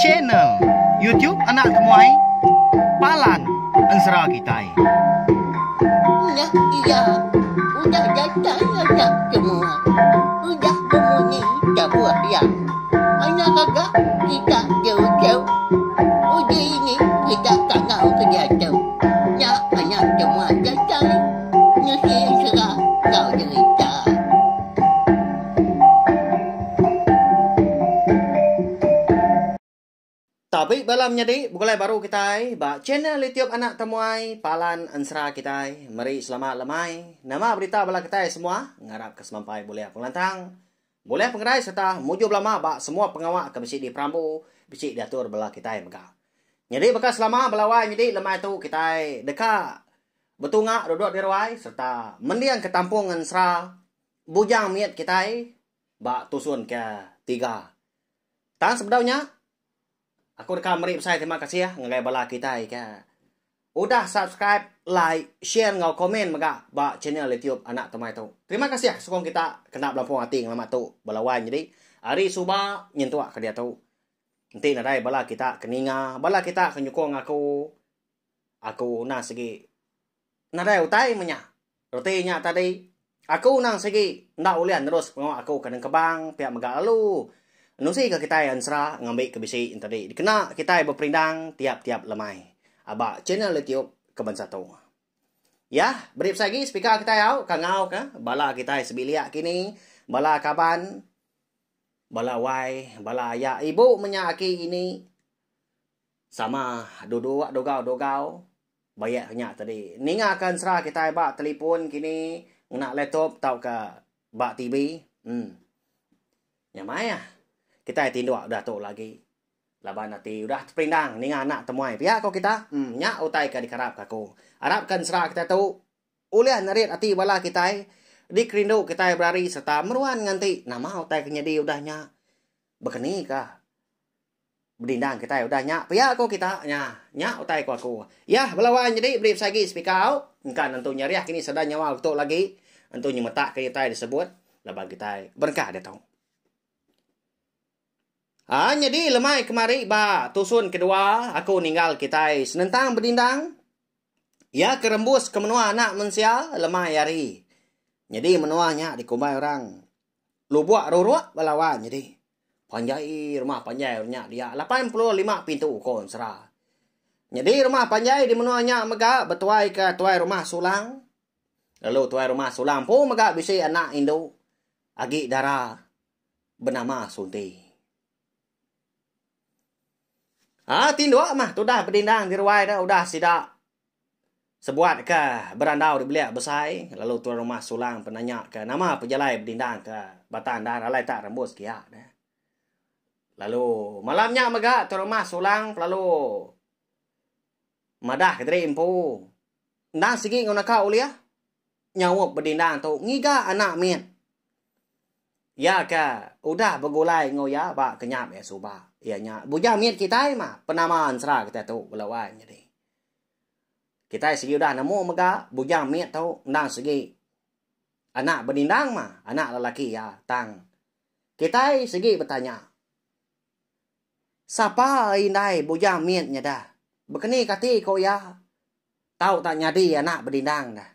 Channel YouTube Anak Temuai Palan Ensera Kitai. Ulah iya udah datai anak temuai. Udah bemunyi tabuh iya. Anak gaga kita jauh-jauh. Udah ini kita tangau ke diatu. Nya anak temuai datai. Nusi ensera enggau derita. Tabi bala menyadi begulai baru kitai ba channel YouTube Anak Temuai Palan Ensera kitai. Meri selamat lemai. Nama berita bala kitai semua? Ngarap ke semampai bulih pengelantang, bulih pengerai serta mujur belama ba semua pengawa ke bisi diperambu, bisi diatur bala kitai mega. Nyadi baka selama bala wai nyadi lemai tu kitai deka betunga duduk di ruai serta mendingka tampung ensera. bujang mit kitai ba tusun ke tiga. Tang sebedau nya, aku deka meri besai terima kasih ngagai bala kitai ke udah subscribe, like, share enggau komen mega ba channel YouTube Anak Tumai tu. Terima kasih sukung kita kena belampung ati ngelama tu bala wan nyadi ari suba nyentuk ke diatu. Enti nadai bala kita ke ninga, bala kita ke nyukung aku, aku na sigi. Nadai utai meh nya. Reti nya tadi, aku nang sigi enda ulih nerus pengawa aku ke nengkebang pia mega lalu. Nusi ke kitai ensra ngambi ke bisi enti di dikena kitai beperindang tiap-tiap lemai aba channel YouTube ke bansa tu. Yah, beri besai agi speaker kitai au ka ngau ke bala kitai sebilik kini, bala kaban, bala wai, bala aya ibu meh nya aki ini. Sama duduk dogau-dogau bayak nya tadi. Ninga ka ensera kitai ba telipon kini ngena laptop tauka ba TV. Hmm. Nya mai ah. Kitai tinduk udah tu lagi. Laban ati udah teperindang ninga anak temuai pia ko kita. Hmm. Nya utai ka dikarap ka aku. Arap ka ensera kitai tu ulih nerit ati bala kitai dikerindu kitai berari serta meruan nganti nama utai ke nyadi udah nya. Baka ni ka Bedindang kitai udah nya pia ko kita nya. Nya utai ko aku. Yah bela wan nyedi beri besagi sepikau engka nentu nyeriah kini sada nyawa utuk lagi entu nyemetak ke utai disebut laban kitai berengkah ditu. Ha nyedi lemai kemari ba tusun kedua aku ninggal kitai senentang bedindang iya ke rembus ke menua anak mensia lemai hari. Nyedi menua nya dikumbai orang. lubok rurok ba lawan nyadi panjai rumah panjai orang nya dia lapan puluh lima pintu ko ensera nyadi rumah panjai di menua nya mega betuai ka tuai rumah sulang lalu tuai rumah sulang empu mega bisi anak indu agi dara benama sunti um tinduk mah tudah bedindang di ruai da udah sida Sebuat ka berandau dibelik besai lalu tuan rumah Sulang pun nanya ka nama pejalai bedindang ka batang dahan alai tak rembus kia ne. Lalu malam nya mega tuan rumah Sulang pelalu madah ka diri empu endang sigi enggau naka ulih nyaup bedindang tu ngiga anak mit iya ka udah begulai enggau iya ba kenyap iya suba iya nya bujang mit kitai mah penama ensera kitai tu bela wai nyadi. Kitai sigi udah nemu mega bujang mit tu endang sigi anak benindang mah anak lelaki iya tang kitai sigi betanya sapa indai bujang mit nyada bekeni kati ko iya tau tak nyadi anak benindang da.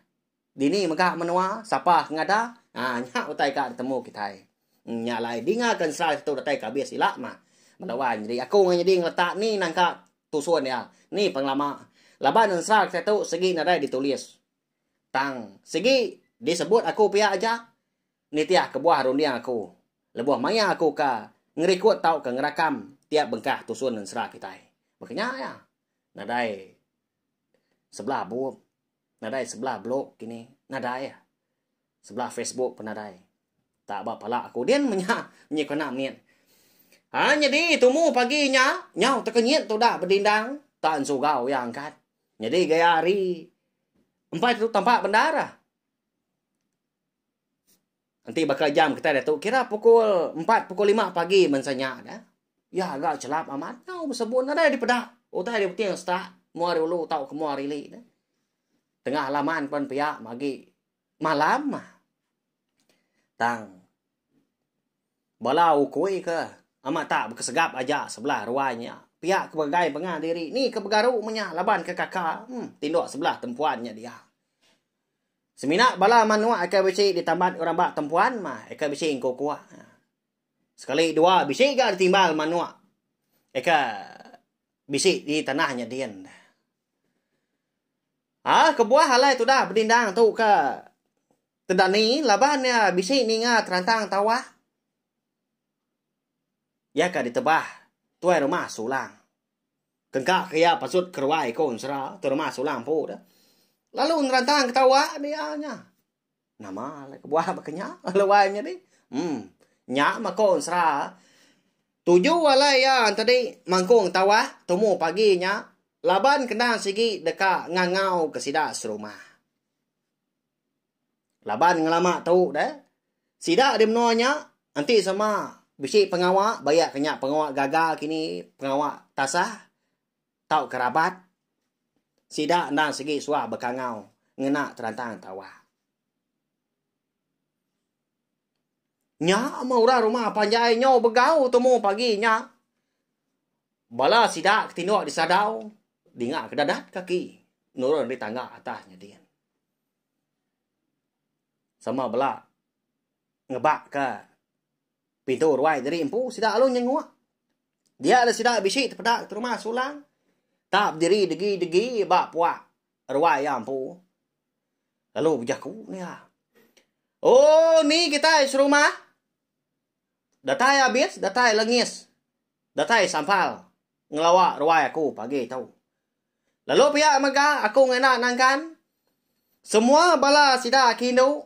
Dini mega menua, sapa ke ngada, ha nya utai ka ditemu kitai. Nya alai dinga ke ensera satu datai ke abis ila mah. Bala wan nyadi aku ngan nyadi ngeletak ni nangka tusun dia, ni pengelama. Laban ensera kitai tu sigi nadai ditulis. Tang sigi disebut aku pia aja nitih kebuah runding aku lebuh maya aku ka ngerikut tauka ngerakam tiap bengkah tusun ensera kitai. Baka nya iya. Nadai sebelah bup. Nadai sebelah blog kini. Nadai ah. Sebelah Facebook pun nadai. Tak ba pala aku din menya menyekena mit. Ha nyadi tumu pagi nya nyau tekenyit tudah bedindang tak ensugau iya angkat. Nyadi gaya hari empai tu tampak bendar ah. Enti baka jam kitai diatu kira pukul empat pukul lima pagi mensia nya dah. Ya ga chelap amat tau besebun nadai dipeda. Utai dia beting setak mua hari ulu tau ke mua hari ili dah. Tengah laman pan pia magi malam mah. Tang bala ukui ke amat tak bekesegap aja sebelah ruai nya. Pia ke begai pengah diri ni ke begaru menya laban ke kaka hmm tinduk sebelah tempuan nya dia. Semina bala manuk ekor bisi ditambat orang ba tempuan mah ekor bisi engku kuak. Sekali dua bisi ga ditimbal manuk ekor bisi di tanah nyadin. Ah, kebuah alai tudah bedindang tu ke tedani laban iya bisi ninga terantang tawah. Iya ka ditebah tuai rumah sulang. Kega ke iya patut keruai ko ensera terma sulang empu de. Lalu nerantang ketawa be iya nya. Nama le kebuah baka nya lalu ai nyadi. Hmm. Nya mah ko ensera. Tuju alai iya tadi mangkung tawa tumu pagi nya laban kena sigi deka ngangau ke sida serumah. Laban ngelama tu deh, sida di menua nya enti sama bisi pengawa bayak ke nya pengawa gaga kini pengawa tasah tau ke rabat sida enda sigi suwa bekangau ngena terantang tawa. Nya meh orang rumah panjai nyau begau temu pagi nya. Bala sida ke tinduk di sadau dinga ke dadat kaki nurun ari tangga atas nya din. Sama bela ngebak ka pintu ruai diri empu sida alu nyenguk. Dia le sida bisi tepeda ke rumah sulang ta bediri degi-degi ba puak ruai iya empu. Lalu bejaku ne iya. Oh ni kitai serumah. Datai abis, datai lengis. Datai sampal ngelawa ruai aku pagi tu. Lalu pia mega aku ngena nangkan semua bala sida ke indu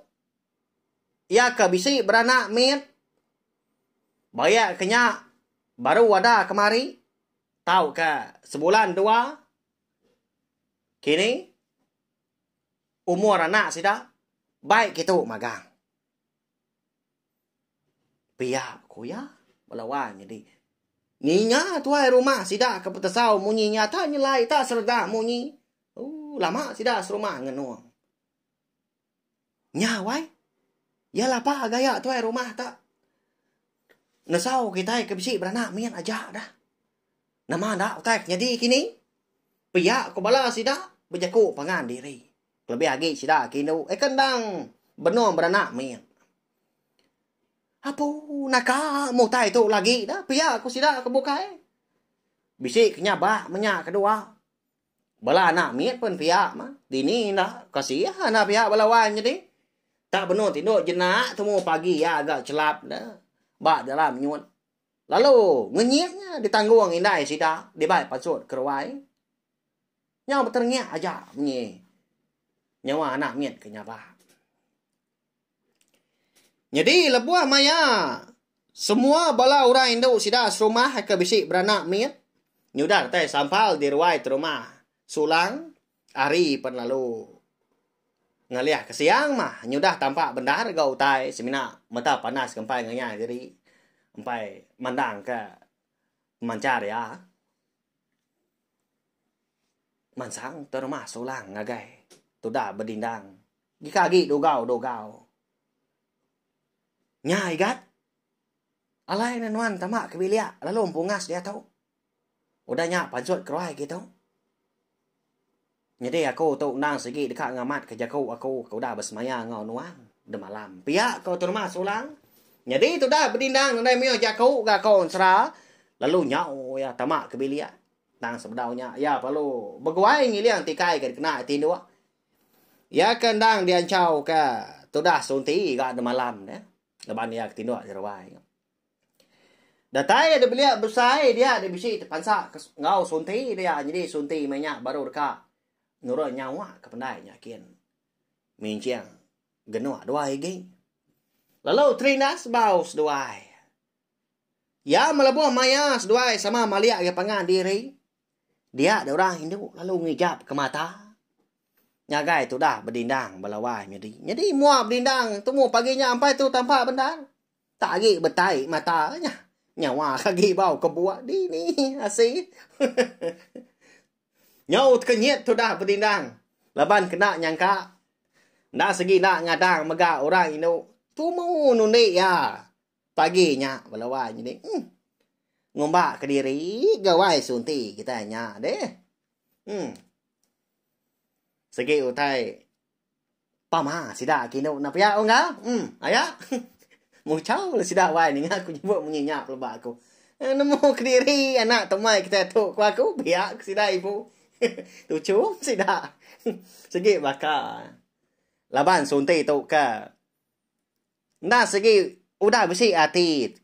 iya ke bisi beranak mit bayak ke nya baru ada kemari tauka sebulan dua kini umur anak sida baik kitu magang. Pia ku iya, bala wai nyadi. Ninga tuai rumah sida ke betesau munyi nyata nyelai ita sereda munyi. Uh, lama sida serumah ngenung. Nya wai. Iya lapa gaya tuai rumah ta. Nesau kitai ke bisi beranak mit aja dah. Nama enda utai ke nyadi kini? Pia ku bala sida bejaku pangan diri. Kelebih agi sida ke indu eka endang benung beranak mit. Apu naka mutai tu lagi dah pia ku sida ke bukai. Bisi ke nyabak menya ke dua. Bala anak mit pun pia mah. Dini enda kasih anak pia bala wan nyadi. Tak benung tindu jenak temu pagi iya agak celap dah. Ba dalam nyut. Lalu ngenyit nya ditanggung indai sida dibai pansut keruai. Nyau beterengiak aja munyi nyawa anak mit ke nyabak. Nyadi lebuh maya semua bala orang indu sida serumah ke bisi beranak mit nyudah datai sampal di ruai terumah Sulang hari pen lalu. Ngalih ke siang mah nyudah tampak bendar ga utai semina mata panas ke empai ngayak diri empai mandang ke pemanchar iya. Mansang te rumah Sulang ngagai tuda bedindang. Gika agi dugau-dugau. Nya Igat, alai ne nuan tama ke bilik lalu empungas diatu. Udah nya pancut keruai kitu. Nyadi aku tu endang sigi deka ngamatka jaku aku ke udah besemaya enggau nuan demalam. Pia ko Terma Sulang. Nyadi tudah Bedindang nadai mioh jaku ga aku ensera lalu nyau iya tama ke bilik. Tang sebedau nya iya perlu beguai ngiling tikai ke dikena iya tinduk. Iya ke endang dianchau ke tudah Sunti ga demalam ne laban iya ke tinduk di ruai. Datai ada belia besai dia da bisi tepansa enggau sunti dia nyadi sunti meh nya baru deka nurun nyawa ke pendai nya kin minjing genuk duai agi. Lalu terindah sebau seduai. Iya melebuh maya seduai sama malik agi pangan diri. Dia da orang indu lalu ngijap ke mata. Ngagai tudah bedindang bala wai nyadi. Nyadi mua bedindang temu pagi nya ampai tu tampak bendar. Tak agi betai mata nya. Nyawa agi bau ke buah dini asi. Nyau tekenyit tudah bedindang laban kena nyangka enda segi enda ngadang mega orang indu tumu nundi iya pagi nya bala wai nyadi. Hmm. Ngumba kediri gawai sunti kitai nya deh. Hmm. Segi utai Pama sida kinu enda pia unggal. Em, aya. Muchau la sida wai ninga aku nyebut munyi nya peleba aku. Eh, nemu kediri anak temai kitai tu ku aku pia ku sida ibu. Tuchum sida. Sigi baka laban sunti tu ka enda sigi udah bisi ati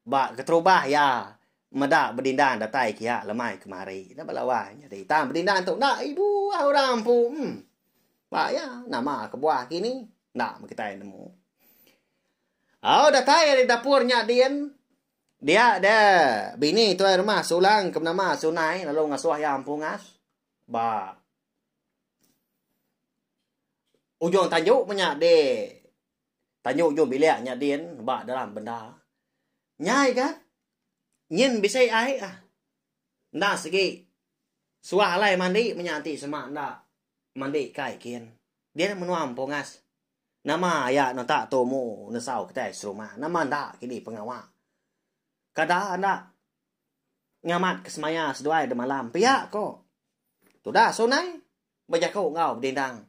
Ba keterubah iya meda bedindang datai ke iya lemai kemari. Enda ba lawa nyadi. Tang bedindang tu enda ibuh orang empu. Em. Ba iya nama kebuah kini enda meh kitai nemu. Au datai ari dapur nya din dia de bini tuai rumah Sulang ke benama Sunai lalu ngasuh iya empu ngas ba Ujong Tanjung menya di Tanjung ujung bilik nya din ba dalam bendar. Nyai ga nyin bisi ai ah. Enda segi suah alai mandi menya enti sema enda mandi kai kin. Din menua empungas. Nama aya nota tumu nesau kitai serumah. Nama enda kini pengawa. Kada enda ngamat ke semaya seduai demalam pia ko tudah sunai. bejaku enggau bedindang.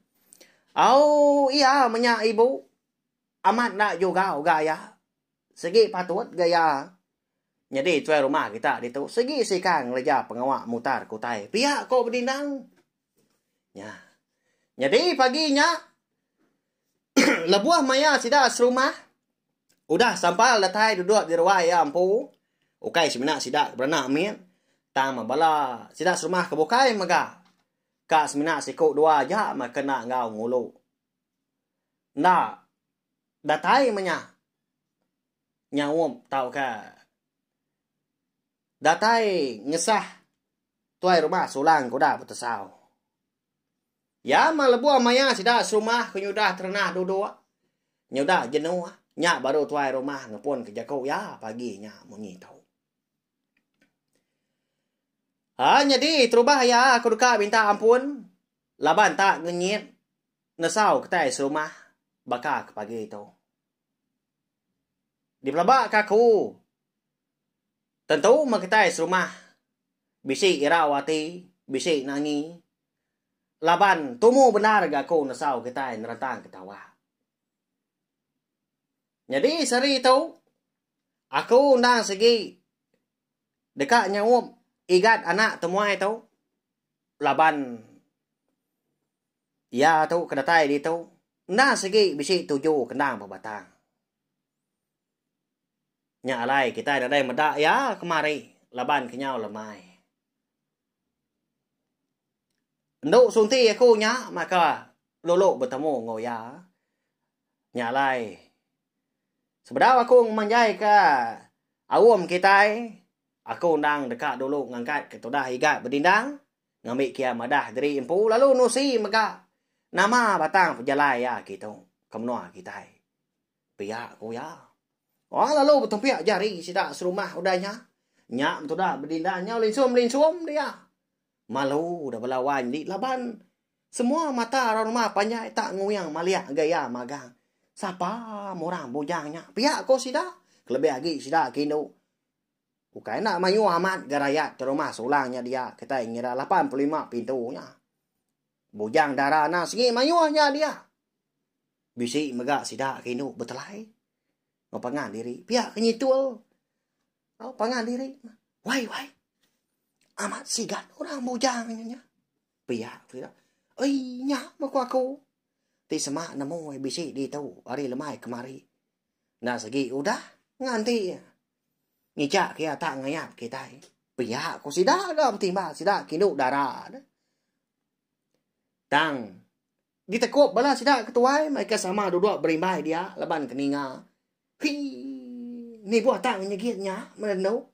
Au iya menya ibu amat enda jugau ga iya. Sigi patut ga iya nyadi tuai rumah kita ditu. Sigi sika ngereja pengawa mutar ke utai pia ko bedindang. Nya. Nyadi pagi nya Lebuh maya sida serumah, udah sampal datai duduk di ruai iya empu, ukai semina sida ke beranak mit, tang meh bala sida serumah ke bukai mega ka semina siku dua aja meh ke enda enggau ngulu. Enda datai meh nya nyaup tauka datai ngesah tuai rumah sulang ke udah betesau. Ya mah lebuh maya sida serumah ke nyudah terenah duduk nyudah jenuh nya baru tuai rumah ngepunka jaku iya pagi nya munyi tu. Ha nyadi terubah iya aku deka minta ampun laban tak ngenyit nesau kitai serumah baka ke pagi tu. Dipelaba ka aku Tentu meh kitai serumah bisi irau ati, bisi nangi laban tumu bendar ga aku nesau kitai nerentang ke tawa. Nyadi sehari tu aku endang sigi deka nyaup igat anak temuai tu laban iya tu ke datai ditu endang sigi bisi tuju ke endang bebatang. Nya alai kitai nadai meda iya kemari laban kenyau lemai. Endu sunti aku nya maka lulu betemu enggau iya. Nya alai sebedau aku ngemanjaika aum kitai, aku endang deka dulu ngangkatka tudah Igat Bedindang ngambika iya madah diri empu lalu nusi mega nama batang pejalai iya kitu ke menua kitai. Pia ku iya. Wang lalu betumpik jari sida serumah udah nya. Nya betudah bedindan nyau linsum-linsum dia. Malu udah bala wai nyadi laban semua mata orang rumah panjai tak nguing malik ngagai iya magang. Sapa meh orang bujang nya pia ku sida. Kelebih agi sida ke indu. Ukai enda mayuh amat ga rayat ti rumah sulang nya dia kitai ngira lapan puluh lima pintu nya. Bujang dara anang sengi mayuh nya dia. Bisi mega sida ke indu betelai. Mau pangan diri. Pia ke nyitul. Mau pangan diri. Wai, wai. Amat sigat orang bujang nya nya. Pia ke sida. Oi, nya mah ku aku. Ti semak nemu bisi di tu. Ari lemai kemari. Enda segi udah. Nganti. Ngijak ke iya tak ngayap kitai. Pia ku sida ga betimba sida kindu dara ne. Tang ditekup bala sida ketuai mai ke sama duduk berimbai dia laban ke ninga. Hi ni buah tak ngenyegit nya merendu.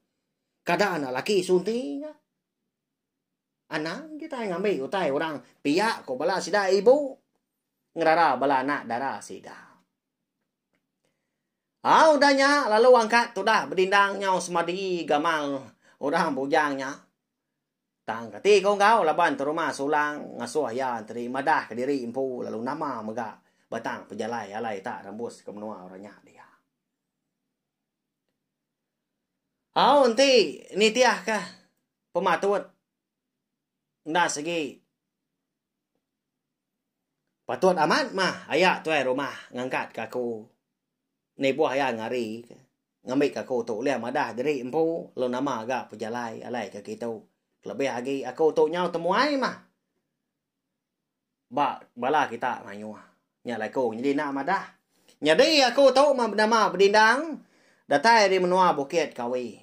Kada na laki sunti nya. Anang kitai ngambi utai orang pia ku bala sida ibu. Ngerara bala anak dara sida. Au udah nya lalu angkat tudah bedindang nyau semadi gamal orang bujang nya. Tang kati ko enggau laban terumah sulang ngasuh iya enteri madah kediri empu lalu nama mega batang pejalai alai tak rembus ke menua orang nya dia. Au enti nitihka pematut. Enda segi. Patut amat mah aya tuai rumah ngangkatka aku. Nibuh iya ngarika. Ngambika aku tu ulih madah diri empu lalu nama ga pejalai alai ke kitu. Kelebih agi aku tu nyau temuai mah. Ba bala kita mayuh. Nya alai aku nyadi enda madah. Nyadi aku tu nama bedindang datai ari menua Bukit Kawi.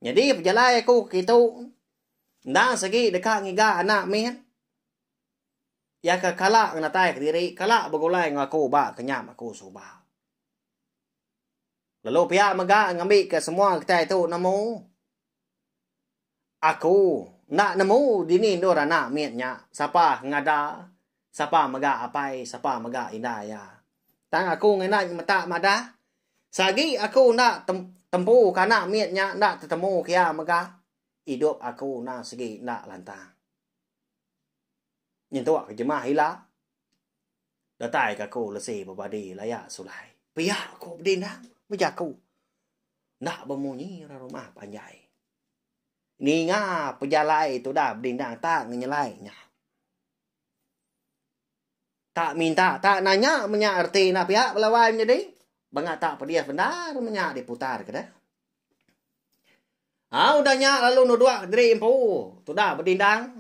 Nyadi pejalai aku ke kitu enda segi deka ngiga anak mit iya ke kala ngenatai kediri, kala begulai enggau aku ba kenyam aku suba. Lalu pia mega ngambika semua kitai tu nemu. Aku enda nemu dini endur anak mit nya, sapa ngada, sapa mega apai, sapa mega indai iya. Tang aku ngena nyemetak madah, seagi aku enda tempu ke anak mit nya enda tetemu ke iya mega, idup aku enda segi enda lantang. Nyentuk ke jemah ila, datai ke aku lesi bebadi laya sulai. Pia ku bedindang bejaku enda bemunyi ra rumah panjai. Ninga pejalai tu dah bedindang tak ngenyelai nya. Tak minta, tak nanya menya reti enda pia bala wai menyadi. Bengah tak pedih bendar menya diputar ke dah. Ha, udah nya lalu nuduk diri empu. Tu dah bedindang.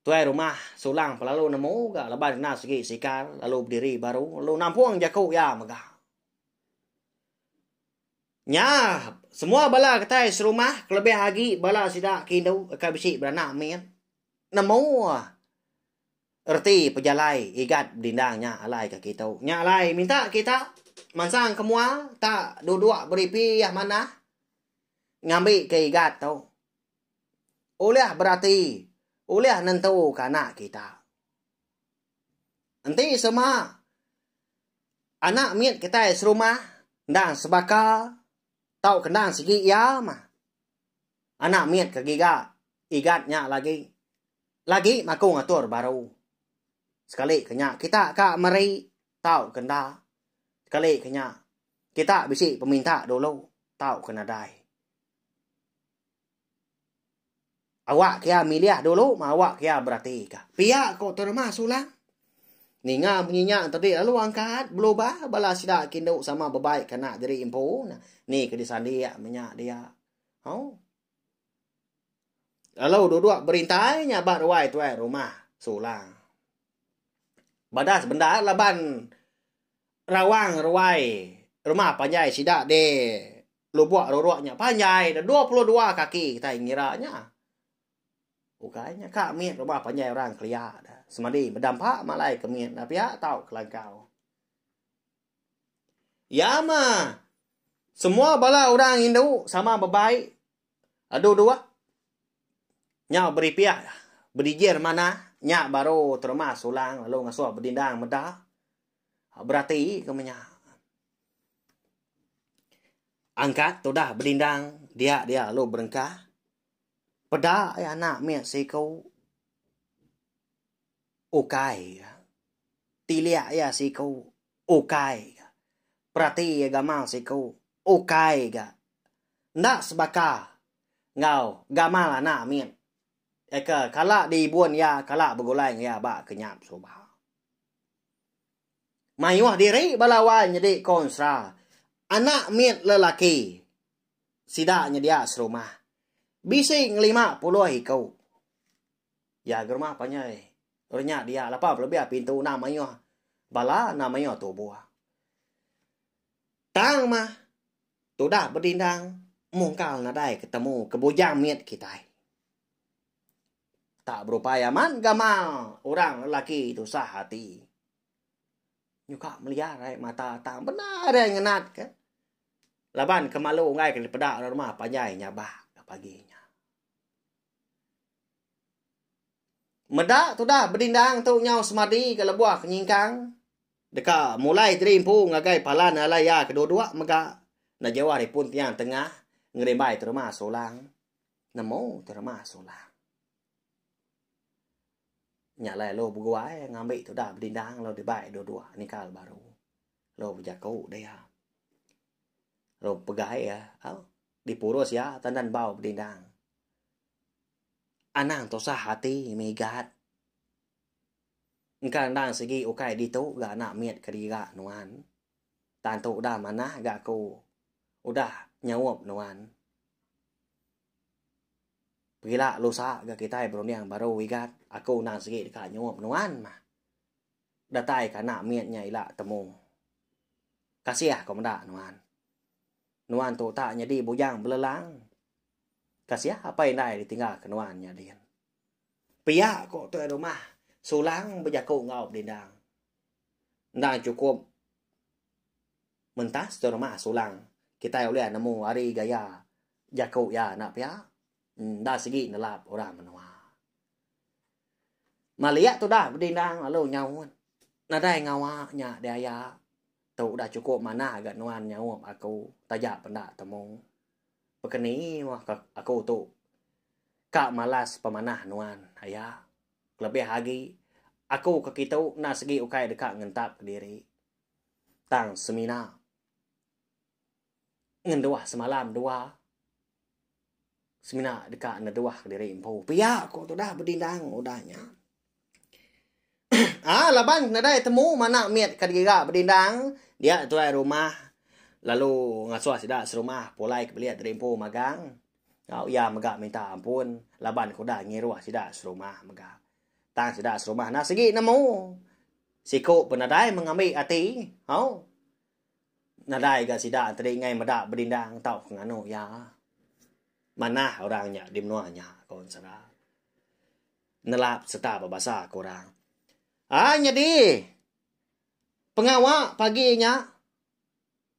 Tuai rumah sulang pelalu nemu ga leban kena segi sikar lalu bediri baru lalu nampung jaku ya mega. Nya, semua bala kitai serumah kelebih agi bala sida ke indu ke bisi beranak mit nemu reti pejalai igat bedindang nya alai ke kitu. Nya alai minta kita mansang ke mua tak duduk beripih manah ngambi ke igat tu ulih berati ulih nentuka anak kita. Enti sema anak mit kitai serumah endang sebaka tau kendang sigi iya mah. Anak mit ke giga igat nya lagi. Lagi maku ngatur baru. Sekali ke nya kita ka meri tau ke enda. Sekali ke nya kita bisi peminta dulu tau ke nadai. Awak kia milih dulu mah awak kia beratika. Pia ko terma sulang. Ninga munyi nya tadi lalu angkat belubah bala sida kindu sama bebai ke anak diri empu nah. Ni ke disandik menya dia. Au. Lalu duduk berintai nya ba ruai tuai rumah sulang. Badas bendar laban rawang ruai rumah panjai sida di Lubuk ruruk nya panjai dah dua puluh dua kaki kitai ngira nya. Ukai nya ka mit rumah panjai orang kelia dah. Semadi meda empa malai ke mit dah pia tau kelangkau. Ya ma. Semua bala orang indu sama bebaik. Adu dua. Nyau beripik bedijir manah nya baru terima sulang lalu ngasuh bedindang meda. Ha, berati ke menya. Angkat tudah belindang dia dia lu berengkah. Peda ya anak mi siku ukai. Tiliak ya siku ukai. Perati ya gamal siku ukai ga. Ndak sebaka ngau gamal anak mi. Eka kala di ibun ya kala begulai ya ba kenyap suba. Mayuh diri bala wai nyedi konsla anak mit lelaki sida nyedia serumah. Bisi ngelima puluh iku. Ya gerumah panjai renya dia lapa belebih pintu enda mayuh bala enda mayuh tubuh. Tang mah tudah bedindang mungkal nadai ketemu ke bujang mit kitai. Tak berupai amat gamal orang lelaki tusah ati. Nyuka meliar ai mata tang bendar ai ngenat ke. Laban kemalu enggai ke dipeda orang rumah panjai nyabak ke pagi nya. Meda tudah bedindang tu nyau semadi ke lebuh ke nyingkang. Deka mulai diri empu ngagai palan alai iya kedua-dua mega. Enda jauh ari pun tiang tengah ngerimbai terumah serulang. Nemu terma sulah. Nya alai lo beguai ngambi tudah bedindang lo dibai dua-dua nikal baru. Lo bejaku dia. Lo pegai ya. Au. Dipurus ya tandan bau bedindang. Anang tusah hati migat. Engka endang segi ukai ditu ga anak mit ke diga nuan. Tantu udah manah ga aku udah nyaup nuan. Pengila lusa ga kitai berunding baru igat aku undang sigi deka nyup nuan mah. Datai ka anak mit nya ila temu. Kasih aku meda nuan. Nuan tu utak nyadi bujang belelang. Kasih apai indai ditinggal ke nuan nya din. Pia ko tuai rumah sulang bejaku enggau bedindang. Endang chukup Mentah seduai rumah Sulang, kitai ulih nemu ari gaya jaku iya enda pia enda sigi nelap orang menua. Malia tudah bedindang lalu nyaut, nadai ngawa nya diaya tu udah chukup manah ga nuan nyaup aku taja penda temu. Pekeni mah ka aku tu ka malas pemanah nuan aya. Kelebih agi aku ke kitu enda sigi ukai deka ngentap kediri. tang semina ngenduh semalam dua semina deka neduh kediri empu pia ku tudah bedindang udah nya aaa laban nadai temu mana mit ka digira bedindang dia tuai rumah lalu ngasuh sida serumah pulai ke bilik kediri empu magang tau iya mega minta ampun laban ke udah ngiruh sida serumah mega. Tang sida serumah enda sigi nemu. Siku pun nadai mengambi ati. Hau. Nadai ga sida tadi ngai meda bedindang tauka nganu iya. Manah orang nya di menua nya, ku ensera. Nelap sereta bebasa ke orang. Ai nyadi pengawa pagi nya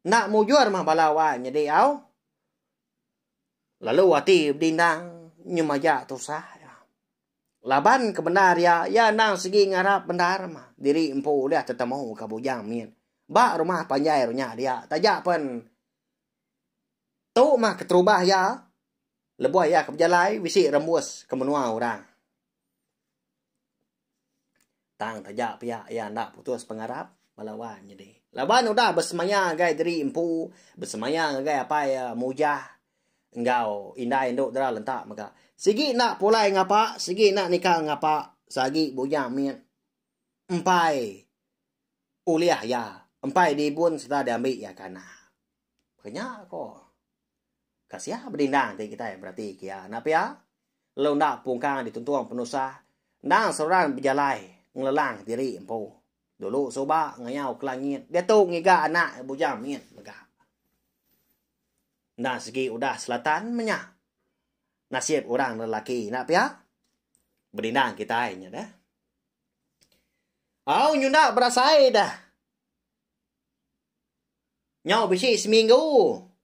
enda mujur mah bala wai nyadi au. Lalu ati bedindang nyemaja tusah. Laban kebendar iya, iya endang sigi ngarap bendar mah diri empu ulih tetemu ka bujang mit ba rumah panjai ru nya dia. Taja pen tu mah keterubah iya lebuh iya ke bejalai bisi rembus ke menua orang. Tang taja pia iya enda putus pengarap bala wan nyadi. Laban udah besemaya ngagai diri empu, besemaya ngagai apai iya Mujah enggau indai endu dara lenta mega. Sigi enda pulai ngapa, sigi enda nikal ngapa, sagi bujang mit empai ulih iya, empai dibun sereta diambi iya kana. Ke nya ko. Ka sia bedindang ti kitai berati ke iya. Enda pia, lalu enda pungkang dituntung penusah, endang seruran bejalai ngelelang diri empu. Dulu suba ngayau ke langit, diatu ngiga anak iya bujang mit mega. Enda segi udah selatan menya nasib orang lelaki enda pia. Bedindang kitai nya deh. Au nyunda berasai deh. Nyau bisi seminggu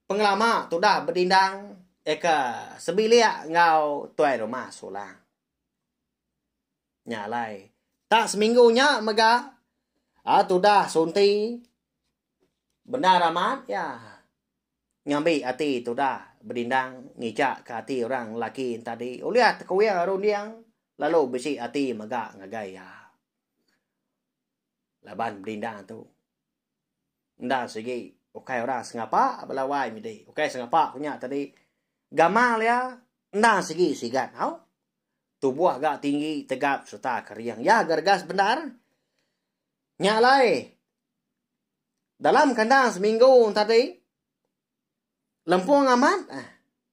pengelama tudah bedindang eka sebilik enggau tuai rumah Sulang. Nya alai, tang seminggu nya mega a tudah sunti bendar amat iya ngambi ati tudah bedindang ngijakka ati orang lelaki enti tadi ulih tekuing runding lalu bisi ati mega ngagai iya. laban bedinda tu enda sigi ukai orang sengapa bala wai midi ukai sengapa ku nya tadi gamal iya enda sigi sigat tau tubuh ga tinggi tegap serta kering iya gergas bendar nya alai dalam kandang seminggu tadi lempung amat ah,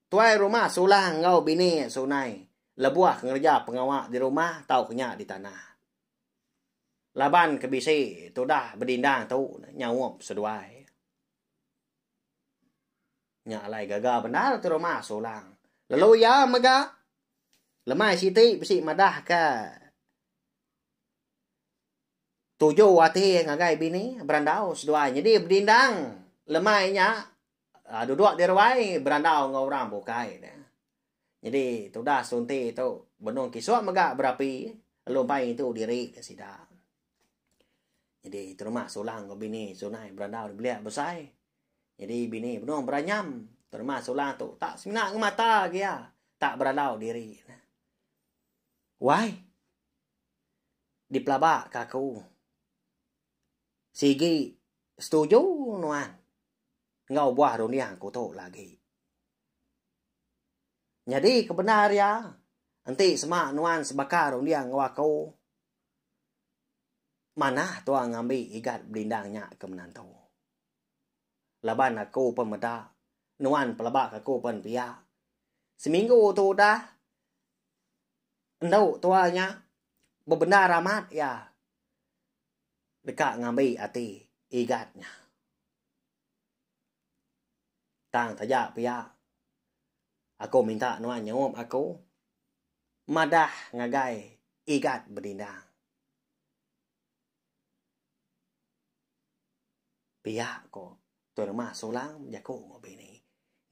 tuai rumah sulang enggau bini sunai lebuh ngereja pengawa di rumah tau ku nya di tanah Laban ke bisi tudah bedindang tu ne nyaup seduai. Nya alai gaga bendar ti rumah Sulang. Lalu iya mega lemai siti bisi madah ke tuju ati ngagai bini berandau seduai. Nyadi bedindang lemai nya duduk di ruai berandau enggau orang bukai ne. Nyadi tudas sunti tu benung kisuk mega berapi elu empai tu diri ke sida. Nyadi terma sulang enggau bini sunai berandau di belia besai. Nyadi bini benung beranyam terma sulang tu tak semina ngemata agi iya tak berandau diri ne. Wai dipelaba ka aku sigi setuju nuan enggau ubuh runding aku tu lagi. Nyadi ke bendar iya, enti sema nuan sebaka runding enggau aku, manah tuan ngambi igat belindang nya ke menantu. Laban aku pun meda, nuan pelaba ke aku pun pia. Seminggu tu udah, endu tuan nya bebendar amat iya deka ngambi ati igat nya. Tang taja pia, aku minta nuan nyaup aku madah ngagai Igat Bedindang. Pia ko Tuan Rumah Sulang bejaku enggau bini.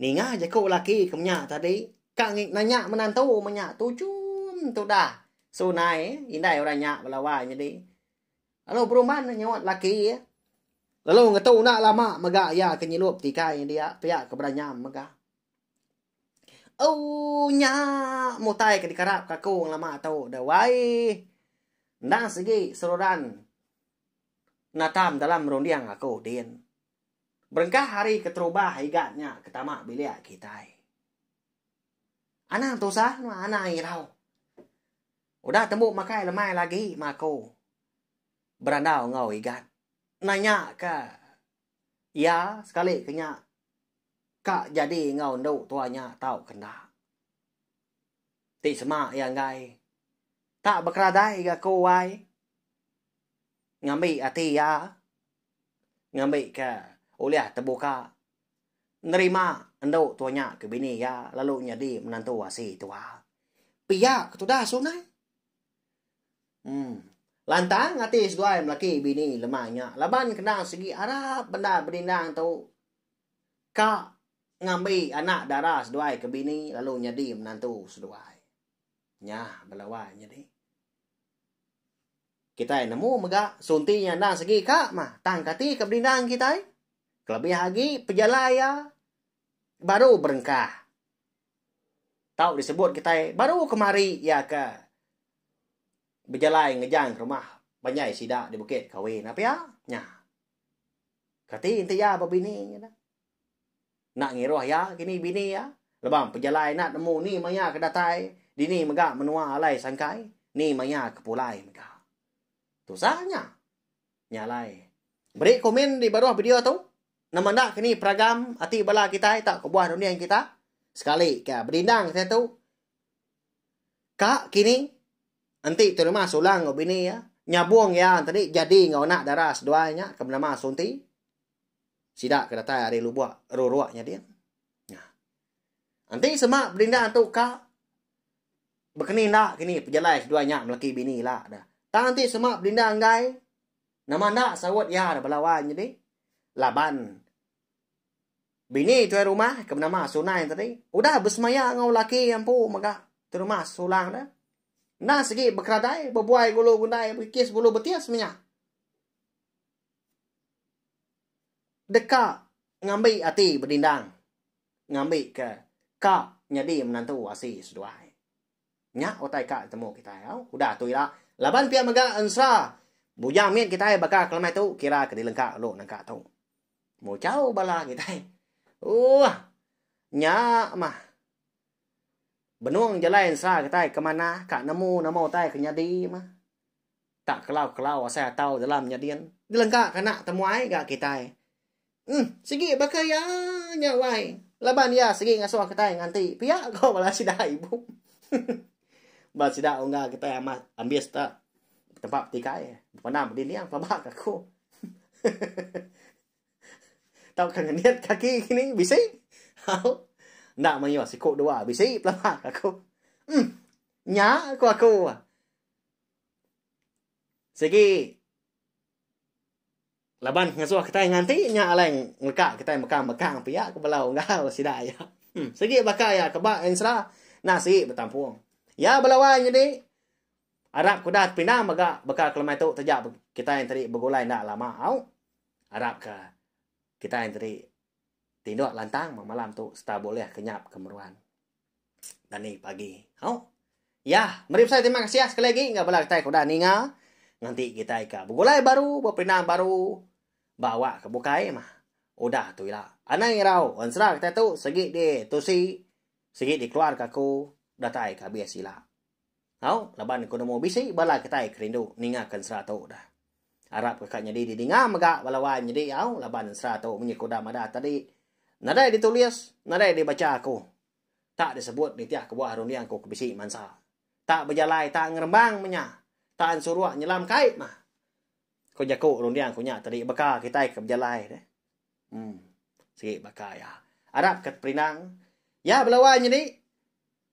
Ninga jaku laki ke menya tadi, ka ngi nanya menantu menya tu chum tudah sunai indai orang nya belawa nyadi. Lalu Beruman nyauat laki iya. Lalu ngetu enda lama mega iya ke nyilup tikai dia pia ke bedanyam mega. Oh nya mutai ke dikarap ka aku lama tu dah wai. Endang segi seruran natam dalam runding aku din. Berengkah hari keterubah igat nya ke tama bilik kitai. Anang tusah, anang irau. Udah tembu makai lemai lagi ma aku berandau enggau Igat nanya ka iya sekali ke nya ka jadi enggau endu tua nya tau ke enda. Ti sema iya enggai tak bekeradai ga aku wai ngambi ati iya ngambi ka ulih tebuka nerima endu tua nya ke bini iya lalu nyadi menantu asi tua. Pia ke tudas sungai. Hmm. Lantang ati seduai melaki bini lemai nya laban kena segi arap bendar benindang tu ka ngambi anak dara seduai ke bini lalu nyadi menantu seduai. Nya bala wai nyadi. Kitai nemu mega sunti nya endang segi ka mah tang kati ke benindang kitai. Kelebih agi pejalai iya baru berengkah tau disebut kitai baru kemari iya ke bejalai ngejang ke rumah panjai sida di bukit Kawi enda pia nya. Kati enti iya ba bini nya. Enda ngiruh iya kini bini iya lebam pejalai enda nemu ni maya ke datai dini mega menua alai sangkai ni maya ke pulai mega. Tusah nya. Nya alai. Meri komen di baruh video tu. Nama enda ke ni peragam ati bala kitai tau kebuah runding kita. Sekali ka bedindang saya tu. Ka kini. Enti Tun Rumah sulang enggau bini ya. Nyabung ya tadi jadi enggau anak dara seduai nya ke benama Sunti. Sida ke datai ari lubuk ruruk nya din. Enti sema bedinda tu ka bekeni enda kini pejalai seduai nya melaki bini ila da. Tang enti sema bedinda enggai nama enda saut iya da bala wai nyadi laban bini tuai rumah ke benama Sunai tadi udah besemaya enggau laki iya empu mega tuai rumah sesulang da. Enda segi bekeradai bebuai gulu gundai bekikis gulu betis menya. Deka. Ngambi ati bedindang ngambi ke ka nyadi menantu asi seduai. Nya utai ka ditemu kitai au udah tu ila laban pia mega ensra bujang mit kitai baka kelemai tu kira ke dilengka ulu nangka tu. Muchau bala kitai. Uuh. Nya mah. Benung jalai ensra kitai ke manah ka nemu nama utai ke nyadi mah. Tak kelau-kelau asai atau dalam nyadin. Ngelengka ke anak temuai ga kitai. Em, sigi baka iya nya wai. Laban iya sigi ngasuh kitai nganti pia ko bala sida ibu. Ba sida ungga kitai amat ambis ta. Tempa betikai, bepandang bedinding pelaba ka aku. Tauka ngenit kaki kini bisi. Hau. Enda mayuh siku dua bisi pelaba ka aku. Em, nya ko aku. Sigi laban ngesuh kitai nganti nya alai ngeleka kitai mekang-mekang pia ke bala unggal sida iya. Hmm, sigi baka iya ke ba Ensra nah sigi betampung. Ya bala wai nyadi arap ke udah dipinang mega baka ke lemai tu taja kitai tadi begulai enda lama au. Arap ke kitai tadi tinduk lantang malam tu sereta bulih ke nyap ke meruan. Tani pagi. Hau. Ya, meri besai terima kasih ya sekali lagi enggak bala kitai ke udah ninga. Nganti kitai ka begulai baru, beperinang baru, ba awak ke bukai mah. Udah tu ila. Anang irau ensera kitai tu segi di tusi, segi dikeluarka aku datai ke abis ila. Au, laban ku nemu bisi bala kitai ke rindu ninga ke ensera tu dah. Arap ke ka nyadi di dinga mega bala wai nyadi au laban ensera tu munyi ku udah madah tadi nadai di tulis, nadai di bacha aku. Tak di sebut nitih kebuah runding ku ke bisi mansa. Tak bejalai tak ngerembang menya, tak ensuruk nyelam kai mah. Ku jaku runding ku nya tadi baka kitai ke bejalai deh. Em. Sigi baka iya. Arap ke teperinang. Ya bala wai nyadi.